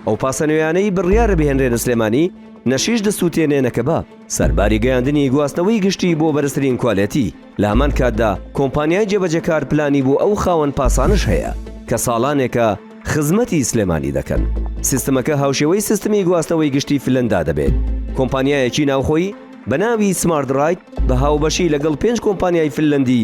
ئەو پاسە نوێیانەی بڕیارە بهێنرێنە سلێمانی نەشیش دەسووتێنێنە کە بە سەرباری گەیاندنی گواستنەوەی گشتی بۆ بەرزترین کوالێتی لە هەمان کاتدا کۆمپانیای جێبەجەکار پلانی بۆ ئەو خاوەن پاسانش هەیە کە ساڵانێکە خزمەتی سلێمانی دەکەن سیستمەکە هاوشێوەی سیستمی گواستنەوەی گشتی فلەندا دەبێت کۆمپانیایەکی ناوخۆی بە ناوی سمارت ڕایت بە هاوبەشی لەگەڵ پێنج کۆمپانیای فلەندی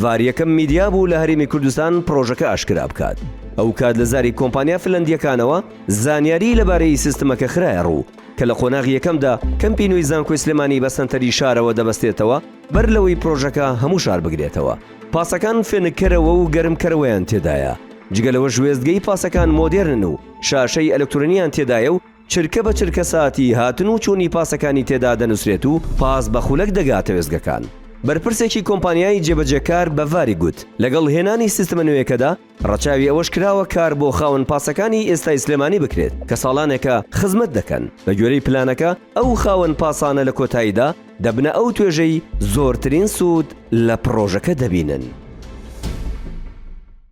ڤار یەکەم میدیا بوو لە هەرێمی کوردستان پڕۆژەکە ئاشکرا بکات، ئەوکات لە زاری کۆمپانیا فنلەندییەکانەوە زانیاریی لەبارەی سیستمەکە خرایە ڕوو کە لە قۆناغی یەکەمدا کەمپی نوێی زانکۆی سلێمانی بە سەنتەری شارەوە دەبەستێتەوە بەر لەوەی پڕۆژەکە هەموو شار بگرێتەوە پاسەکان فێنککەرەوە و گەرمکەرەوەیان تێدایە جگە لەوەش وێستگەی پاسەکان مۆدێرنن و شاشەی ئەلکترۆنییان تێدایە و چرکە بە چرکە ساتی هاتن و چوونی پاسەکانی تێدا دەنووسرێت و پاس بە خولەک دەگاتە وێستگەکان. بەرپرسێکی کۆمپانیای جێبەجێکار بە ڤاری گوت، لەگەڵ هێنانی سیستمە نوێیەکەدا ڕەچاوی ئەوەش کراوە کار بۆ خاوەن پاسەکانی ئێستای سلێمانی بکرێت کە ساڵانێکە خزمەت دەکەن، بەگوێرەی پلانەکە ئەو خاوەن پاسانە لە کۆتاییدا دەبنە ئەو توێژەی زۆرترین سوود لە پڕۆژەکە دەبینن.